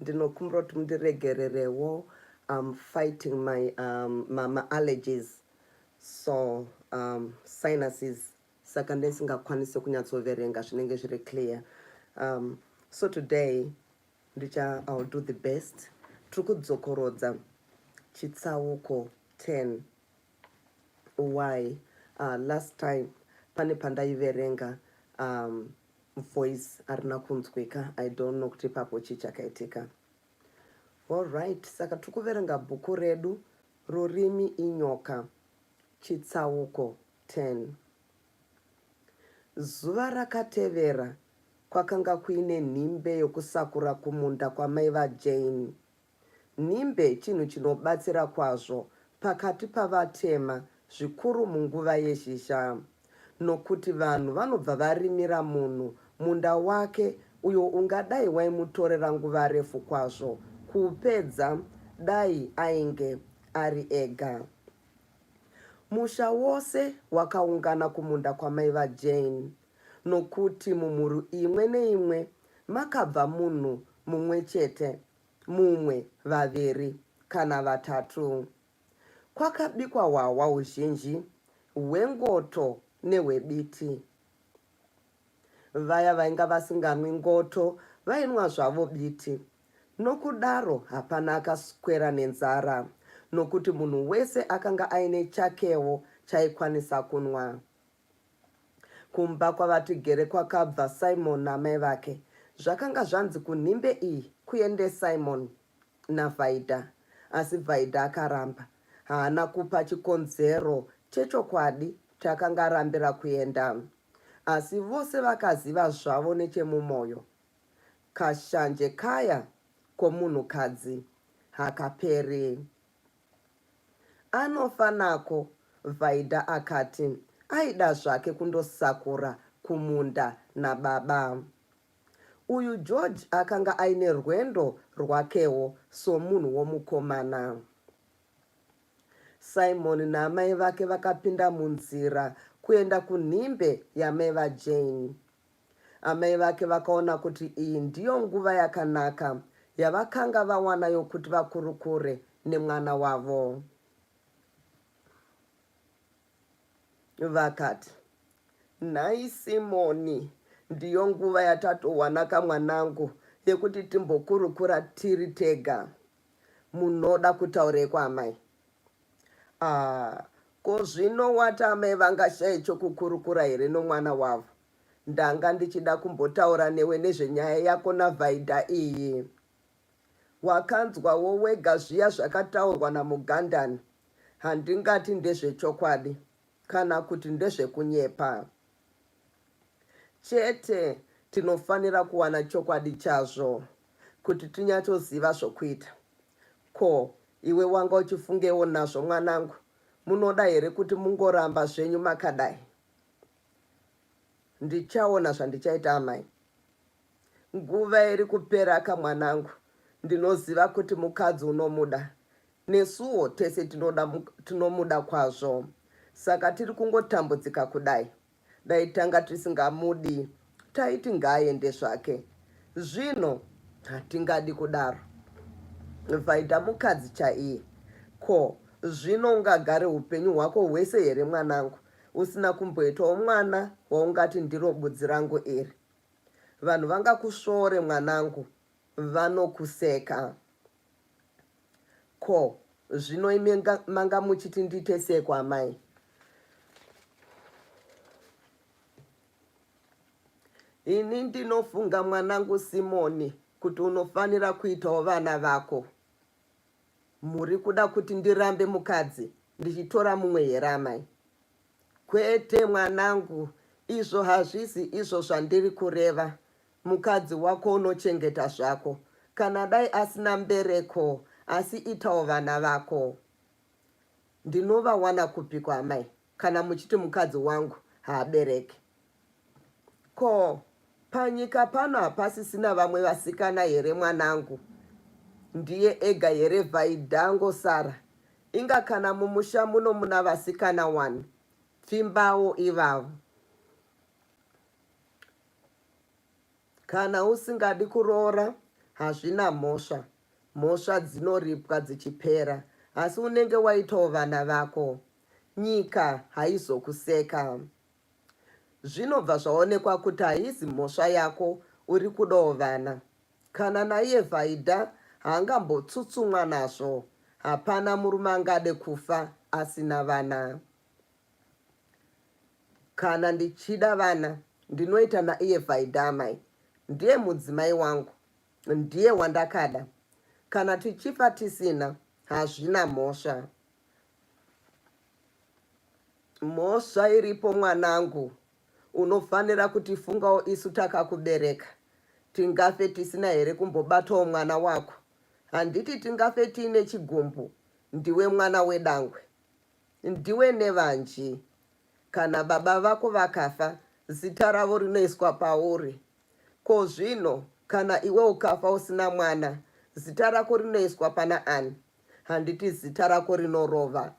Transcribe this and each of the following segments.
ndinokumbira kuti mundiregererewo um, fighting my um, ma, ma allergies so um, sinuses saka ndisingakwanise kunyatsoverenga zvinenge zviri clear um, so today ndicha ill do the best tiri kudzokorodza chitsauko 10 why uh, last time pane pandaiverenga um, voice arina kunzwika i don't know kuti ipapo chii chakaitika allright saka tiri kuverenga bhuku redu rurimi inyoka chitsauko 10 zuva rakatevera kwakanga kuine nhimbe yokusakura kumunda kwamai vajane Nhimbe chinhu chinobatsira kwazvo pakati pavatema zvikuru munguva yezhizha nokuti vanhu vanobva varimira munhu munda wake uyo ungadai waimutorera nguva refu kwazvo kuupedza dai ainge ari ega. Musha wose wakaungana kumunda kwamai vaJane nokuti mumhuri imwe neimwe makabva munhu mumwe chete mumwe, vaviri kana vatatu. Kwakabikwa hwahwa huzhinji hwengoto nehwebiti. Vaya vainga vasinganwi ngoto vainwa zvavo biti. Nokudaro hapana akaswera nenzara nokuti munhu wese akanga aine chakewo chaikwanisa kunwa. Kumba kwavaTigere kwakabva Simon namai vake. Zvakanga zvanzi kunhimbe iyi kuende Simon naVhaidha asi Vhaidha akaramba. Haana kupa chikonzero chechokwadi chaakanga arambira kuenda asi vose vakaziva zvavo nechemumoyo. Kashanje kaya komunhukadzi hakaperi Anofa nako Vaida akati aida zvake kundosakura kumunda nababa. Uyu George akanga aine rwendo rwakewo somunhu womukomana. Simon naamai vake vakapinda munzira kuenda kunhimbe yamai vaJane. Amai vake vakaona kuti iyi ndiyo nguva yakanaka yavakanga vawana yokuti vakurukure nemwana wavo. Vakati, Nhai Simoni, ndiyo nguva yatatowanaka mwanangu yekuti timbokurukura tiri tega. Munoda kutaurei kwaamai? Aah ko zvino wati amai vangashaye chokukurukura here nomwana wavo? Ndanga ndichida kumbotaura newe nezvenyaya yako naVaida iyi. Wakanzwawo wega zviya zvakataurwa naMugandani, handingati ndezvechokwadi. Kana kuti ndezvekunyepa chete? Tinofanira kuwana chokwadi chazvo kuti tinyatsoziva zvokuita. Ko, iwe wanga uchifungewo nazvo mwanangu? Munoda here kuti mungoramba zvenyu makadai? Ndichaona zvandichaita amai. Nguva iri kupera ka mwanangu, ndinoziva kuti mukadzi unomuda. Nesuwo tese tinoda tinomuda kwazvo saka tiri kungotambudzika kudai. Dai tanga tisingamudi taiti ngaaende zvake. Zvino hatingadi kudaro. Vaida mukadzi chaiye. Ko zvino ungagare upenyu hwako hwese here mwanangu usina kumboitawo mwana waungati ndiro budzi rangu iri? Vanhu vangakusvoore mwanangu, vanokuseka. Ko zvino imi manga muchiti ndiite seko amai? Ini ndinofunga mwanangu Simoni kuti unofanira kuitawo vana vako. Muri kuda kuti ndirambe mukadzi ndichitora mumwe here amai? Kwete mwanangu, izvo hazvisi izvo zvandiri kureva. Mukadzi wako unochengeta zvako kana dai asina mbereko asi itawo vana vako. Ndinovawana kupiko amai kana muchiti mukadzi wangu haabereki. Ko panyika pano hapasisina vamwe vasikana here mwanangu? Ndiye ega here Vaida angosara? Inga kana mumusha muno muna vasikana wani? Pfimbawo ivavo. Kana usingadi kuroora hazvina mhosva. Mhosva dzinoripwa dzichipera asi unenge waitawo vana vako. Nyika haizokuseka. Zvinobva zvaonekwa kuti haizi mhosva yako uri kudawo vana. Kana naiye Vaida haangambotsutsumwa nazvo. Hapana murume angade kufa asina vana. Kana ndichida vana ndinoita naiye Vaida amai ndiye mudzimai wangu ndiye wandakada kana tichifa tisina hazvina mhosva mhosva iripo mwanangu unofanira kutifungawo isu takakubereka tingafe tisina here kumbobatawo mwana wako handiti tingafe tiine chigumbu ndiwe mwana wedangwe Ndiwe nevanji. Kana baba vako vakafa, zita ravo rinoiswa pauri. Ko zvino kana iwe ukafa usina mwana, zita rako rinoiswa pana ani? Handiti zita rako rinorova?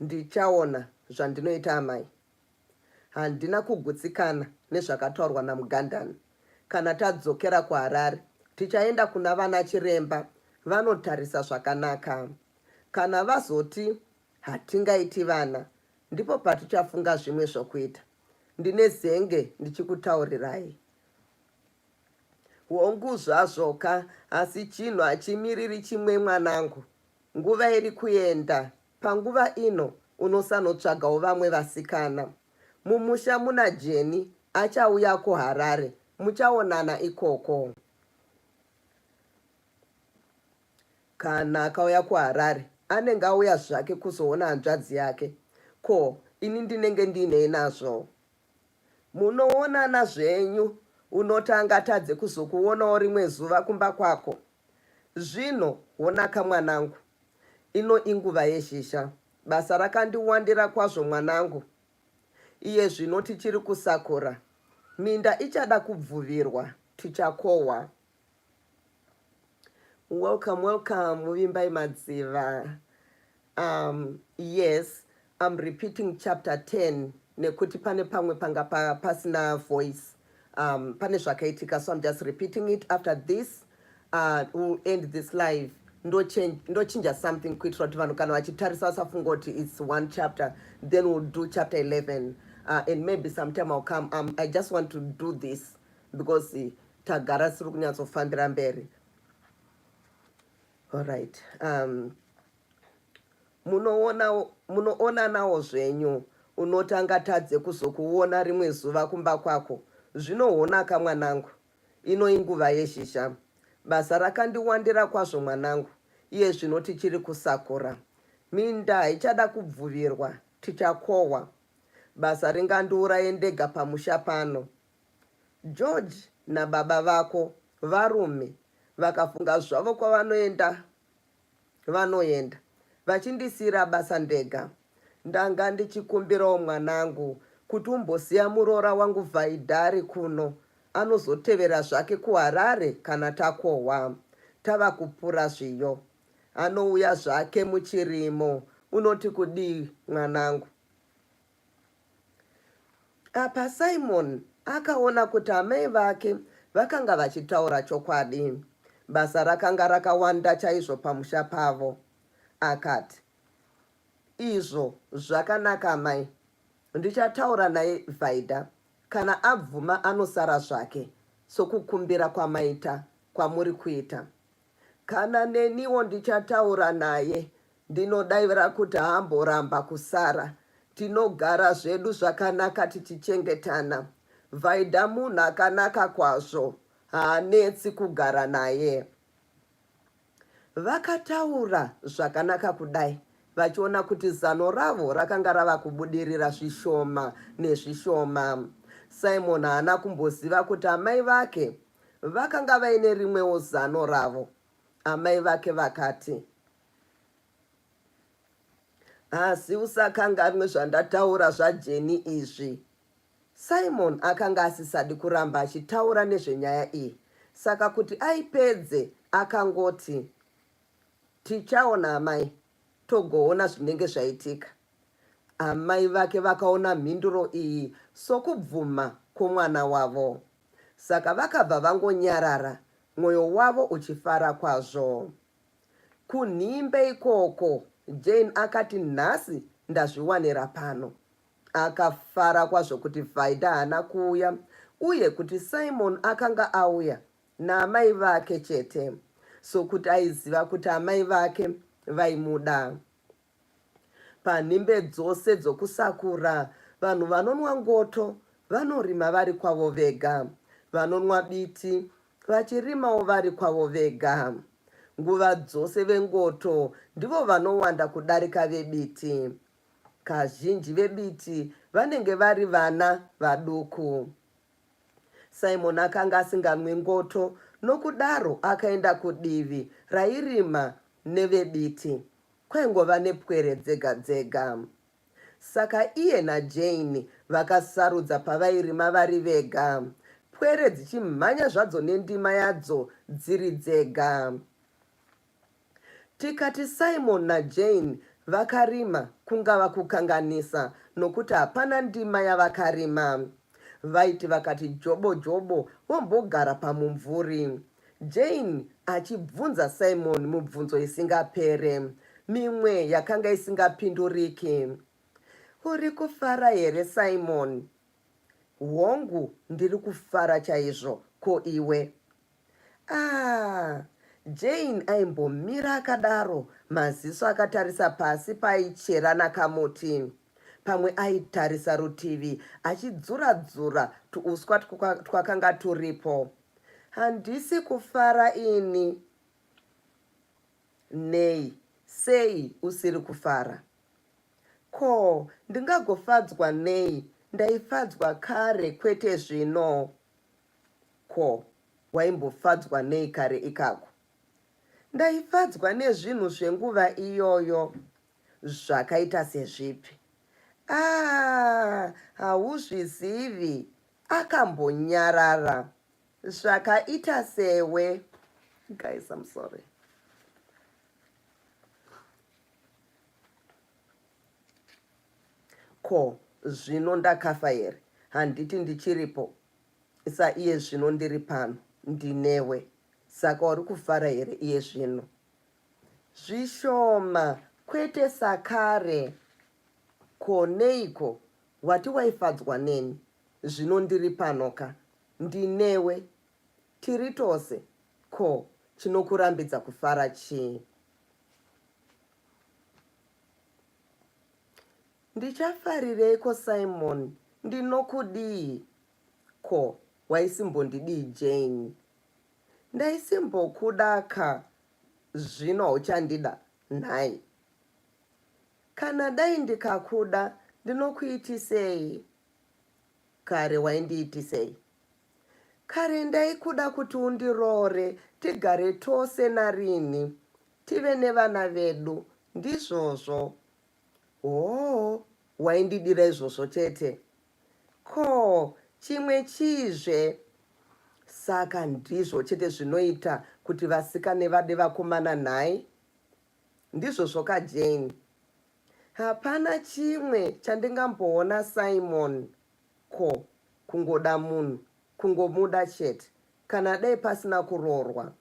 Ndichaona zvandinoita amai. Handina kugutsikana nezvakataurwa naMugandani. Kana tadzokera kuHarare, tichaenda kuna vana chiremba vanotarisa zvakanaka. Kana vazoti hatingaiti vana, ndipo patichafunga zvimwe zvokuita. Ndine zenge ndichikutaurirai. Hongu zvazvoka, asi chinhu hachimiriri chimwe mwanangu. Nguva iri kuenda. Panguva ino unosanotsvagawo vamwe vasikana. Mumusha muna Jenny achauya kuHarare muchaonana ikoko. Kana akauya kuHarare anenge auya zvake kuzoona hanzvadzi yake. Ko ini ndinenge ndiinei nazvo? Munoonana zvenyu unoti angatadze kuzokuonawo rimwe zuva kumba kwako. Zvino, honaka mwanangu, ino inguva yezhizha. Basa rakandiwandira kwazvo mwanangu. Iye zvino tichiri kusakura. Minda ichada kubvuvirwa. Tichakohwa. Welcome, welcome, Muvimbai Madziva. um, yes I'm repeating chapter 10 nekuti pane pamwe panga pa, pasina voice um, pane zvakaitika so I'm just repeating it after this uh, we'll end this live ndochinja something kuitira kuti vanhu kana vachitarisa vasafunga kuti its one chapter then we'll do chapter 11 uh, and maybe sometime I'll come um, I just want to do this because uh, tagara siri kunyatsofambira mberi all right um, munoonanawo zvenyu unoti angatadze kuzokuona rimwe zuva kumba kwako zvinoonaka mwanangu ino inguva yezhizha basa rakandiwandira kwazvo mwanangu iye zvino tichiri kusakura minda haichada kubvuvirwa tichakohwa basa ringandiuraye ndega pamusha pano george nababa vako varume vakafunga zvavo kwavanoenda vanoenda vachindisiira basa ndega. Ndanga ndichikumbirawo mwanangu kuti umbosiya muroora wangu Vhaidhari kuno, anozotevera zvake kuHarare kana takohwa tava kupura zviyo. Anouya zvake muchirimo. Unoti kudii mwanangu? Apa Simon akaona kuti amai vake vakanga vachitaura chokwadi. Basa rakanga rakawanda chaizvo pamusha pavo. Akati, Izvo zvakanaka amai, ndichataura naye Vaida. Kana abvuma anosara zvake, sokukumbira kwamaita kwamuri kuita. Kana neniwo ndichataura naye ndinodaira kuti haamboramba kusara tinogara zvedu zvakanaka tichichengetana. Vaida munhu akanaka kwazvo haanetsi kugara naye. Vakataura zvakanaka kudai vachiona kuti zano ravo rakanga rava kubudirira zvishoma nezvishoma. Simon haana kumboziva kuti amai vake Vakanga vaine rimwewo zano ravo. Amai vake vakati, Asi usakanganwe zvandataura zvaJeni izvi. Simon akanga asisadi kuramba achitaura nezvenyaya iyi, saka kuti aipedze akangoti, Tichaona amai, togoona zvinenge zvaitika. Amai vake vakaona mhinduro iyi sokubvuma kwomwana wavo. Saka vakabva vangonyarara, mwoyo wavo uchifara kwazvo. Kunhimbe ikoko, Jane akati, Nhasi ndazviwanira pano. Akafara kwazvo kuti Vaida haana kuuya uye kuti Simon akanga auya naamai vake chete, sokuti aiziva kuti amai vake vaimuda. Panhimbe dzose dzokusakura, vanhu vanonwa ngoto vanorima vari kwavo vega, vanonwa biti vachirimawo vari kwavo vega. Nguva dzose vengoto ndivo vanowanda kudarika vebiti. Kazhinji vebiti vanenge vari vana vaduku. Simon akanga asinganwi ngoto, nokudaro akaenda kudivi rairima nevebiti. Kwaingova nepwere dzega dzega. Saka iye naJane vakasarudza pavairima vari vega, pwere dzichimhanya zvadzo nendima yadzo dziri dzega. Tikati Simon naJane vakarima kungava kukanganisa nokuti hapana ndima yavakarima. Vaiti vakati jobo jobo vombogara pamumvuri. Jane achibvunza Simon mubvunzo isingapere, mimwe yakanga isingapinduriki. Uri kufara here Simon? Hongu, ndiri kufara chaizvo. Ko iwe? Ah, Jane aimbomira akadaro, maziso akatarisa pasi paichera nakamuti. Pamwe aitarisa rutivi achidzura-dzura tuuswa twakanga turipo. Handisi kufara ini. Nei? Sei usiri kufara? Ko, ndingagofadzwa nei? Ndaifadzwa kare kwete zvino. Ko, waimbofadzwa nei kare ikako? Ndaifadzwa nezvinhu zvenguva iyoyo. Zvakaita sezvipi? Aa, ah, hauzvizivi. Akambonyarara zvakaita sewe. Guys, I'm sorry. Ko zvino ndakafa here? Handiti ndichiripo sa iye zvino ndiri pano ndinewe. Saka uri kufara here iye zvino? Zvishoma kwete sakare. Ko neiko Wati waifadzwa neni zvino ndiri pano ka ndinewe tiri tose ko chinokurambidza kufara chii? Ndichafarireiko Simon ndinokudii ko waisimbondidii Jane? Ndaisimbokuda ka zvino hauchandida nhai? Kana dai ndikakuda ndinokuitisei? Kare waindiitisei? Kare ndaikuda kuti undiroore tigare tose narini tive nevana vedu ndizvozvo. Hoo, waindidira izvozvo chete. Ko chimwe chizve? Saka ndizvo chete zvinoita kuti vasikane vade vakomana nhai? Ndizvozvoka Jane. Hapana chimwe chandingamboona Simon ko kungoda munhu kungomuda chete kana dai pasina kuroorwa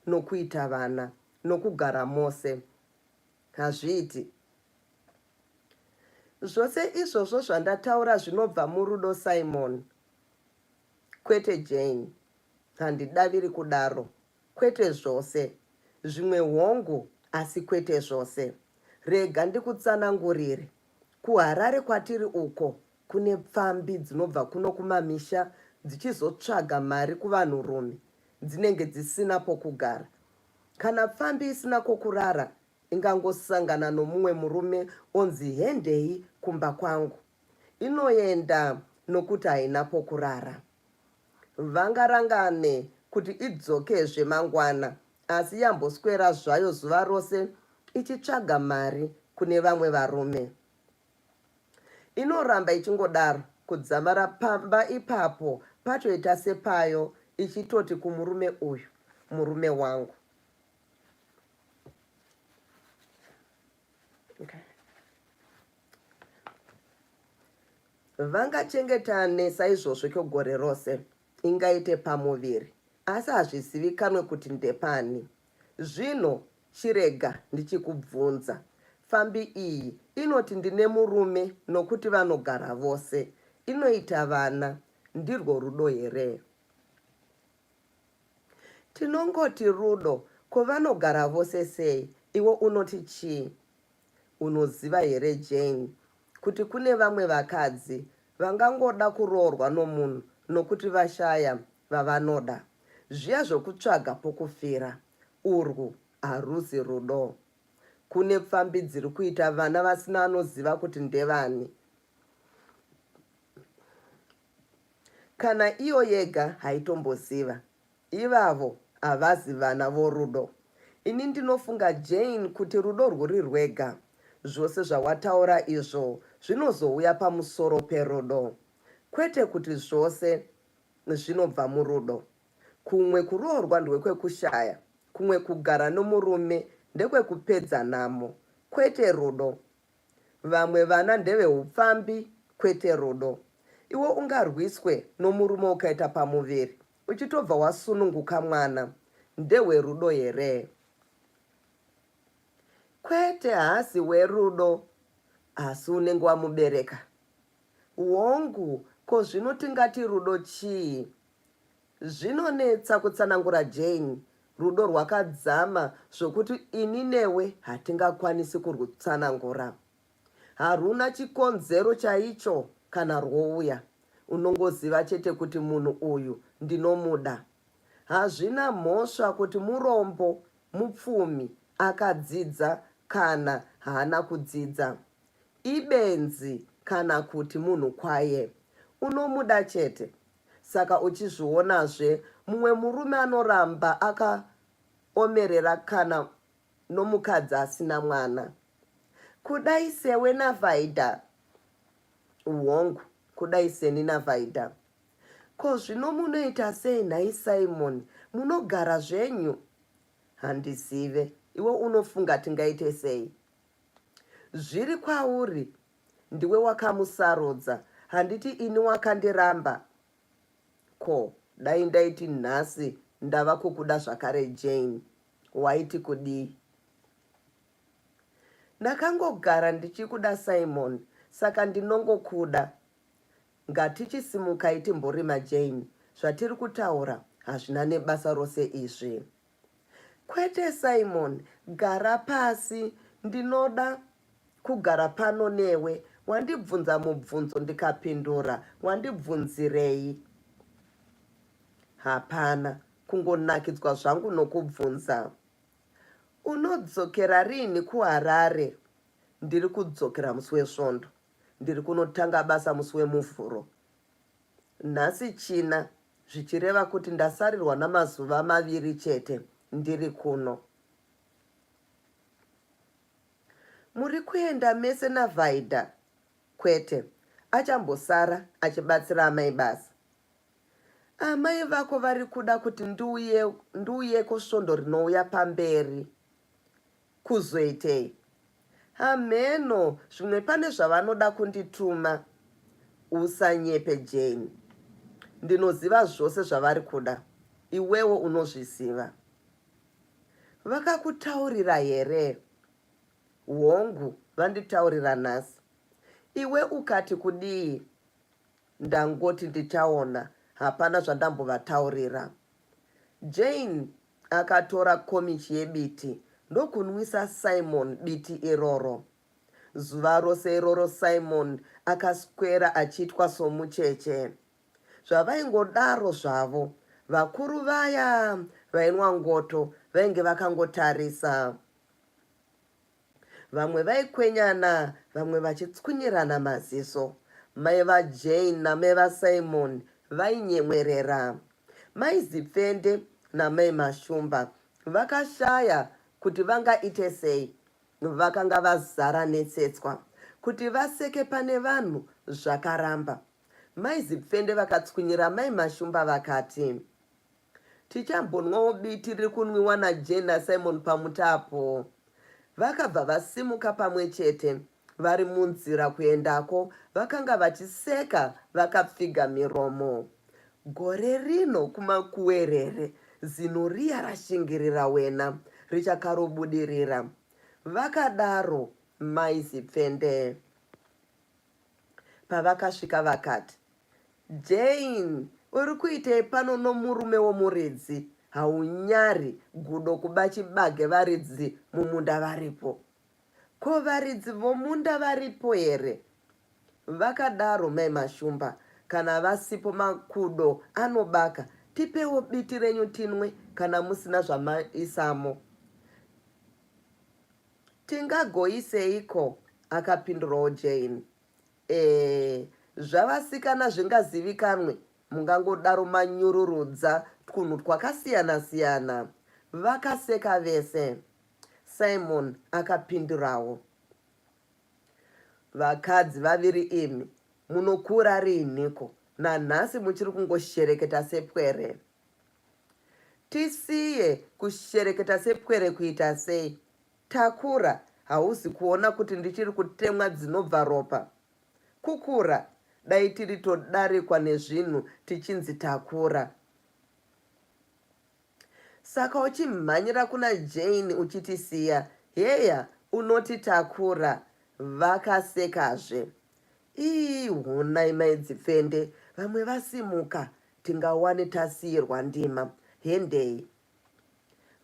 nokuita vana nokugara mose hazviiti. Zvose izvozvo zvandataura zvinobva murudo Simon. Kwete Jane. Handidaviri kudaro Kwete zvose. Zvimwe hongu, asi kwete zvose. Rega ndikutsanangurire. KuHarare kwatiri uko, kune pfambi dzinobva kuno kumamisha dzichizotsvaga mari kuvanhurume, dzinenge dzisina pokugara. Kana pfambi isina kwokurara, ingangosangana nomumwe murume onzi hendei kumba kwangu. Inoenda nokuti haina pokurara. Vangarangane kuti idzokezve mangwana asi yamboswera zvayo zuva rose ichitsvaga mari kune vamwe varume. Inoramba ichingodaro kudzamara pamba ipapo patoita sepayo ichitoti kumurume uyu, murume wangu. Okay. Vangachengetane saizvozvo kwegore rose, ingaite pamuviri, asi hazvizivikanwe kuti ndepani. Zvino chirega ndichikubvunza, pfambi iyi inoti ndine murume nokuti vanogara vose, inoita vana, ndirwo rudo here? Tinongoti rudo ko vanogara vose sei iwe unoti chii? Unoziva here Jane kuti kune vamwe vakadzi vangangoda kuroorwa nomunhu nokuti vashaya vavanoda. Zviya zvokutsvaga pokufira urwu harusi rudo. Kune pfambi dziri kuita vana vasina anoziva kuti ndevani. Kana iyo yega haitomboziva. Ivavo havazi vana vorudo. Ini ndinofunga Jane kuti rudo rwuri rwega. Zvose zvawataura izvo zvinozouya pamusoro perudo. Kwete kuti zvose zvinobva murudo. Kumwe kuroorwa ndwekwekushaya, kumwe kugara nomurume ndekwekupedza nhamo. Kwete rudo. Vamwe vana ndeve hupfambi kwete rudo. Iwe ungarwiswe nomurume ukaita pamuviri uchitobva wasununguka mwana ndewe rudo here? Kwete haasi werudo asi unenge wamubereka. Hongu ko zvino tingati rudo chii? Zvinonetsa kutsanangura Jane. Rudo rwakadzama zvokuti ini newe hatingakwanisi kurwutsanangura. Harwuna chikonzero chaicho kana rwouya. Unongoziva chete kuti munhu uyu ndinomuda. Hazvina mhosva kuti murombo, mupfumi, akadzidza kana haana kudzidza. Ibenzi kana kuti munhu kwaye. Unomuda chete. Saka uchizvionazve mumwe murume anoramba akaomerera kana nomukadzi asina mwana. Kudai sewe naVaida. Hongu, kudai seni naVaida. Ko zvino munoita sei nhai Simon? Munogara zvenyu? Handizive. Iwe unofunga tingaite sei? Zviri kwauri Ndiwe wakamusarudza handiti ini wakandiramba ko dai ndaiti nhasi ndava kukuda zvakare Jane waiti kudii Ndakangogara ndichikuda Simon saka ndinongokuda ngatichisumukai timborima Jane zvatiri kutaura hazvina nebasa rose izvi Kwete Simon gara pasi ndinoda kugara pano newe wandibvunza mubvunzo ndikapindura wandibvunzirei hapana kungonakidzwa zvangu nokubvunza unodzokera riini kuharare ndiri kudzokera musi wesvondo ndiri kunotanga basa musi wemuvhuro Nhasi China zvichireva kuti ndasarirwa namazuva maviri chete ndiri kuno. Muri kuenda mese naVaida? Kwete, achambosara achibatsira amai basa. Amai vako vari kuda kuti ndiuyeko svondo rinouya pamberi. Kuzoitei? Hamheno zvimwe pane zvavanoda kundituma. Usanyepe Jane. Ndinoziva zvose zvavari kuda. Iwewo unozviziva. Vakakutaurira here? Hongu, vanditaurira nhasi. Iwe ukati kudii? Ndangoti ndichaona, hapana zvandambovataurira. Jane Akatora komichi yebiti ndokunwisa Simon biti iroro. Zuva rose iroro Simon akaswera achiitwa somucheche. Zvavaingodaro zvavo, vakuru vaya vainwa ngoto vainge vakangotarisa. Vamwe vaikwenyana vamwe vachitswunyirana maziso. Mai vaJane namai vaSimon vainyemwerera. Mai Zipfende namai Mashumba vakashaya kuti vangaite sei. Vakanga vazara netsetswa. Kuti vaseke pane vanhu zvakaramba. Mai Zipfende vakatswunyira mai Mashumba vakati. Tichambonwawo biti riri kunwiwa naJane naSimon pamutapo. Vakabva vasimuka pamwe chete. Vari munzira kuendako, vakanga vachiseka vakapfiga miromo. Gore rino kumakuwerere, zino riya rashingirira wena, richakarobudirira. Vakadaro Mai Zipfende. Pavakasvika vakati, Jane, uri kuitei pano nomurume womuridzi? Haunyari gudo kuba chibage varidzi mumunda varipo? Ko varidzi vomunda varipo here? Vakadaro mai Mashumba. Kana vasipo makudo anobaka, tipewo biti renyu tinwe kana musina zvamaisamo. Tingagoiseiko? akapindurawo Jane. Ee, zvavasikana zvingazivikanwe, mungangodaro manyururudza twunhu twakasiyana siyana. Vakaseka vese. Simon akapindurawo. Vakadzi vaviri imi, munokura riiniko? Nanhasi muchiri kungoshereketa sepwere. Tisiye kushereketa sepwere kuita sei? Takura hausi kuona kuti ndichiri kutemwa dzinobva ropa? Kukura dai tiri todarikwa nezvinhu tichinzi takura. Saka uchimhanyira kuna Jane uchitisiya heya unoti takura vakasekazve. Ii honai mai Dzipfende vamwe vasimuka tingawane tasiirwa ndima hendei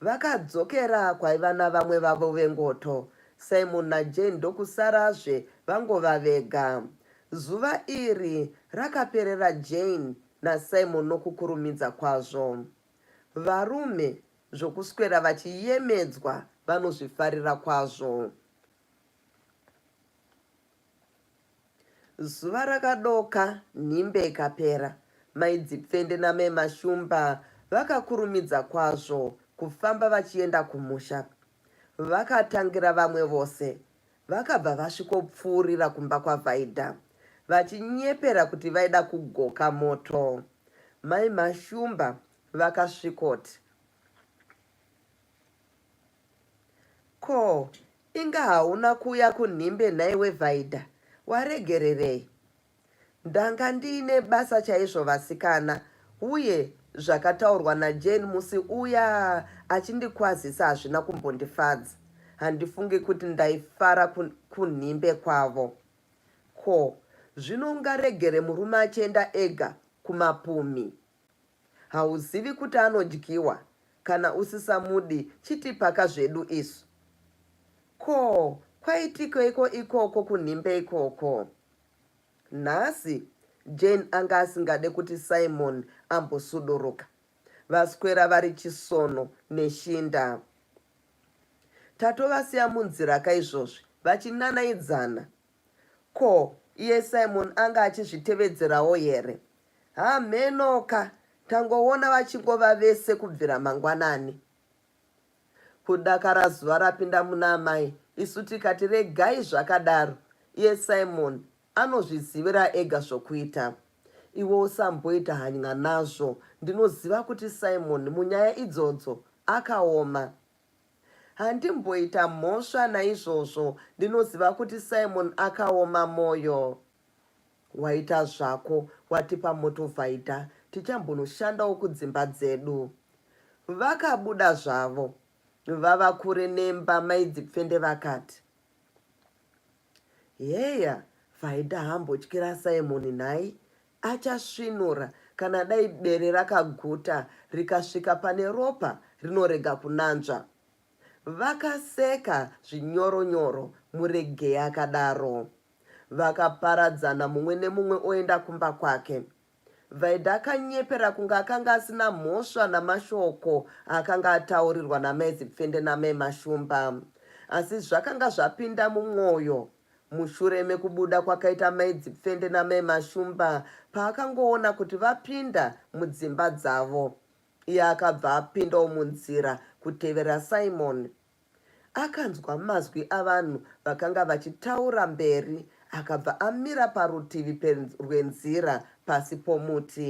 vakadzokera kwaiva navamwe vavo vengoto simon najane ndokusarazve vangova vega zuva iri rakaperera jane nasimon nokukurumidza kwazvo varume zvokuswera vachiyemedzwa vanozvifarira kwazvo Zuva rakadoka, nhimbe ikapera. Mai Dzipfende namai Mashumba vakakurumidza kwazvo kufamba vachienda kumusha. Vakatangira vamwe vose. Vakabva vasvikopfuurira kumba kwaVaida vachinyepera kuti vaida kugoka moto. Mai Mashumba vakasvikoti. Ko inga hauna kuuya kunhimbe nhaiwe Vaida waregererei? Ndanga ndiine basa chaizvo vasikana uye zvakataurwa naJane musi uya achindikwazisa hazvina kumbondifadza. Handifungi kuti ndaifara kunhimbe kwavo. Ko zvino ungaregere murume achienda ega kumapumhi? Hauzivi kuti anodyiwa kana usisamudi chitipaka zvedu isu. Ko kwaitikeiko ikoko kunhimbe ikoko? Nhasi Jane anga asingade kuti Simon ambosuduruka. Vaswera vari chisono neshinda. Tatovasiya munzira ka izvozvi vachinanaidzana Ko iye Simon anga achizvitevedzerawo here? Hamheno ka, tangoona vachingova vese kubvira mangwanani. Kudakara zuva rapinda muna amai isu tikati regai zvakadaro, iye Simon anozvizivira ega zvokuita. Iwe usamboita hany'a nazvo, ndinoziva kuti Simon munyaya idzodzo akaoma. Handimboita mhosva naizvozvo ndinoziva kuti Simon akaoma moyo. Waita zvako watipa motovhaidha tichambonoshandawo kudzimba dzedu. Vakabuda zvavo vava kure nemba maidzipfende vakati. Heya vhaidha hambotyira Simon nhai Achasvinura kana dai bere rakaguta rikasvika pane ropa rinorega kunanzva. Vakaseka zvinyoro nyoro Muregei akadaro. Vakaparadzana mumwe nemumwe oenda kumba kwake. Vaida akanyepera kunge akanga asina mhosva namashoko akanga ataurirwa namai Zipfende namai Mashumba. Asi zvakanga zvapinda mumwoyo. Mushure mekubuda kwakaita mai Dzipfende namai Mashumba paakangoona kuti vapinda mudzimba dzavo iye akabva apindawo munzira kutevera Simon. Akanzwa mazwi avanhu vakanga vachitaura mberi akabva amira parutivi rwenzira pasi pomuti.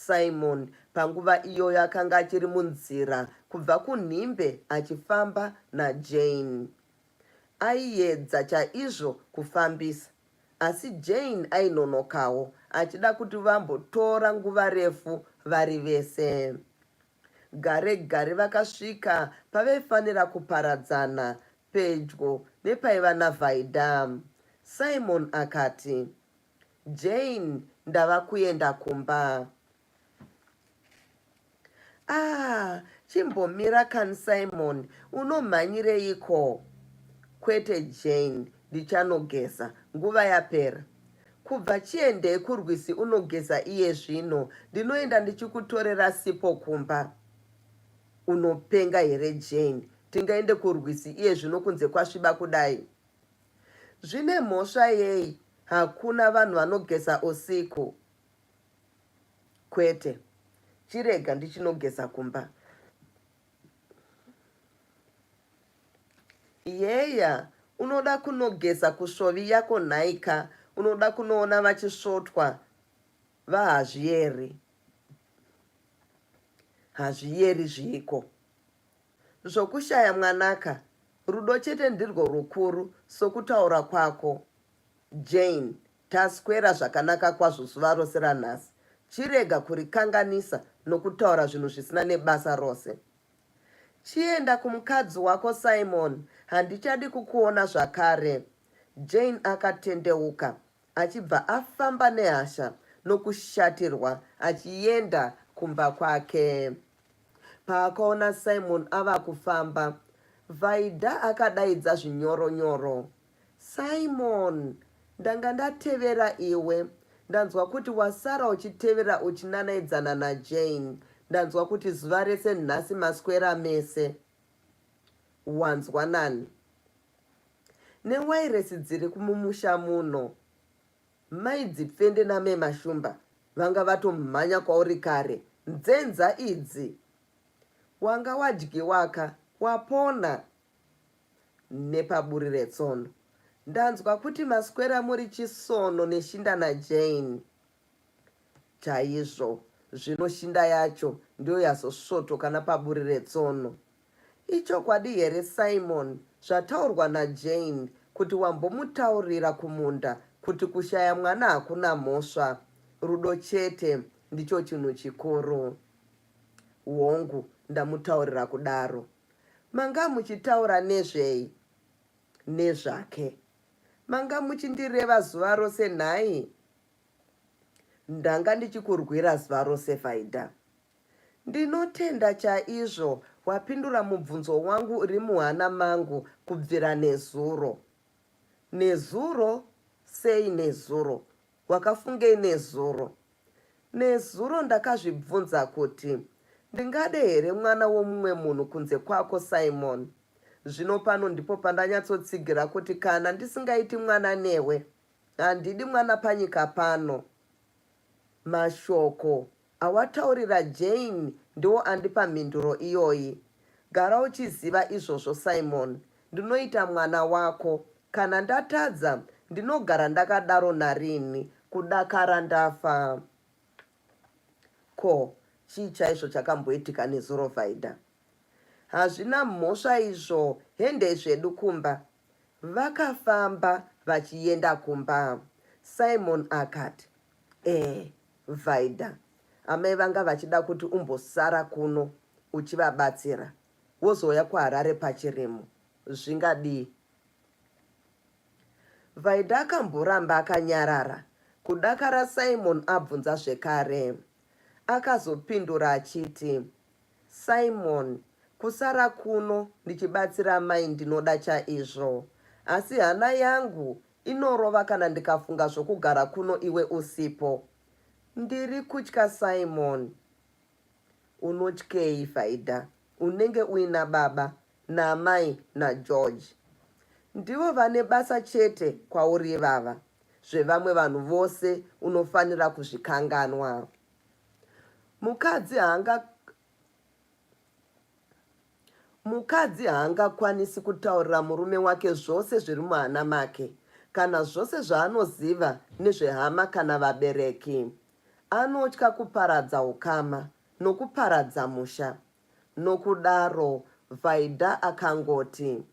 Simon panguva iyoyo akanga achiri munzira kubva kunhimbe achifamba naJane. Aiedza chaizvo kufambisa, asi Jane ainonokawo achida kuti vambotora nguva refu vari vese. Gare gare vakasvika pavaifanira kuparadzana pedyo nepaiva naVaida. Simon akati, Jane ndava kuenda kumba. Ah, chimbomira kan Simon, unomhanyireiko? Kwete Jane, ndichanogeza nguva yapera. Kubva chiendei kurwisi unogeza iye zvino, ndinoenda ndichikutorera sipo kumba. Unopenga here Jane? Tingaende kurwisi iye zvino kunze kwasviba kudai? Zvine mhosva yei hakuna vanhu vanogeza usiku kwete chirega ndichinogeza kumba yeya unoda kunogeza kusvovi yako nhaika unoda kunoona vachisvotwa vahazviyeri hazviyeri zviiko Zvokushaya mwanaka, rudo chete ndirwo rukuru, sokutaura kwako. Jane, Taswera zvakanaka kwazvo zuva rose ranhasi. Chirega kurikanganisa nokutaura zvinhu zvisina nebasa rose. Chienda kumukadzi wako Simon, handichadi kukuona zvakare. Jane akatendeuka achibva afamba nehasha nokushatirwa achienda kumba kwake. Paakaona Simon ava kufamba, Vaida akadaidza zvinyoro nyoro. Simon! Ndanga ndatevera iwe. Ndanzwa kuti wasara uchitevera uchinanaidzana naJane. Ndanzwa kuti zuva rese nhasi maswera mese. Wanzwa nani? Newairesi dziri kumumusha muno. Mai Dzipfende naMe Mashumba vanga vatomhanya kwauri kare. Nzenza idzi. Wanga wadyiwaka wapona nepaburi retsono. Ndanzwa kuti maswera muri chisono neshinda naJane. Chaizvo. Zvino shinda yacho ndiyo yazosvotoka napaburi retsono. Ichokwadi here Simon zvataurwa naJane kuti wambomutaurira kumunda kuti kushaya mwana hakuna mhosva, rudo chete ndicho chinhu chikuru? Hongu, ndamutaurira kudaro. Manga muchitaura nezvei? Nezvake. Manga muchindireva zuva rose nhai? Ndanga ndichikurwira zuva rose Vaida. Ndinotenda chaizvo wapindura mubvunzo wangu uri muhana mangu kubvira nezuro. Nezuro? Sei nezuro? Wakafungei nezuro? Nezuro ndakazvibvunza kuti, Ndingade here mwana womumwe munhu kunze kwako, Simon? Zvino pano ndipo pandanyatsotsigira kuti kana ndisingaiti mwana newe, handidi mwana panyika pano. Mashoko awataurira Jane ndiwo andipa mhinduro iyoyi. Gara uchiziva izvozvo Simon. Ndinoita mwana wako. Kana ndatadza, ndinogara ndakadaro nariini? Kudakara ndafa. Ko, chii chaizvo chakamboitika nezuro Vaida? Hazvina mhosva izvo, hendei zvedu kumba, Vakafamba vachienda kumba. Simon akati, Eh, Vaida, amai vanga vachida kuti umbosara kuno uchivabatsira wozouya kuHarare pachirimo. Zvingadii? Vaida akamboramba akanyarara kudakara Simon abvunza zvekare. Akazopindura achiti, Simon, Kusara kuno ndichibatsira amai ndinoda chaizvo asi hana yangu inorova kana ndikafunga zvokugara kuno iwe usipo. Ndiri kutya Simon, Unotyei Faida? Unenge uina baba naamai naGeorge. Ndivo vane basa chete kwauri ivava. Zvevamwe vanhu vose unofanira kuzvikanganwa. mukadzi haanga mukadzi haangakwanisi kutaurira murume wake zvose zviri muhana make kana zvose zvaanoziva nezvehama kana vabereki anotya kuparadza ukama nokuparadza musha nokudaro vaida akangoti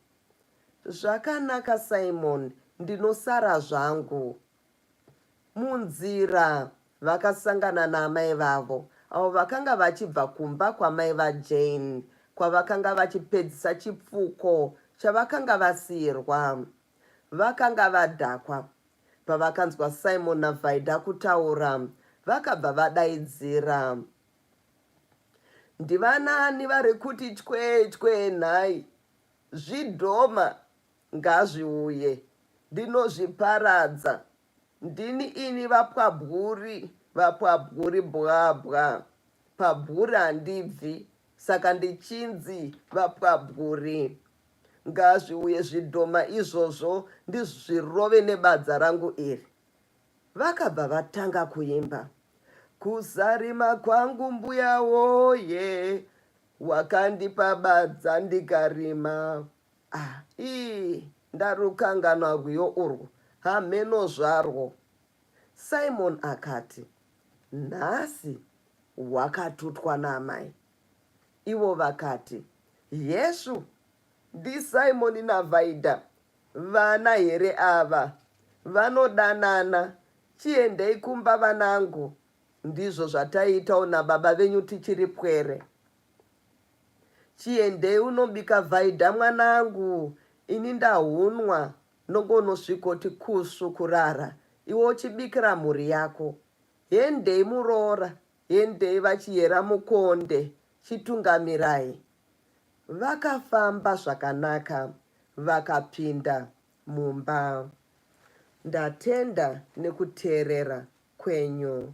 zvakanaka simon ndinosara zvangu Munzira vakasangana naamai vavo avo vakanga vachibva kumba kwamai vaJane kwavakanga vachipedzisa chipfuko chavakanga vasiirwa. Vakanga vadhakwa. Pavakanzwa Simon naVaida kutaura, vakabva vadaidzira. Ndivanani vari kuti chwechwe nhai? Zvidhoma Ngazviuye. Ndinozviparadza. Ndini ini vapwabwuri, vapwabwuri bwabwa. Pabwuri handibvi, saka ndichinzi vapwabwuri. Ngazviuye zvidhoma izvozvo ndizvirove nebadza rangu iri. Vakabva vatanga kuimba. Kuzarima kwangu mbuya woye, wakandipa badza ndikarima. Ah, ii ndarukanganwa rwiyo urwo hamheno zvarwo. Simon akati, Nhasi wakatutwa naamai. Ivo vakati, Yeshu, ndiSimon naVaida. Vana here ava? Vanodanana. Chiendei kumba vanangu. Ndizvo zvataiitawo nababa venyu tichiri pwere. Chiendei unobika vaida mwanangu ini ndahunwa nongo unosvikoti kusu kurara iwe uchibikira mhuri yako hendei muroora hendei vachiyera mukonde chitungamirai vakafamba zvakanaka vakapinda mumba ndatenda nekuteerera kwenyu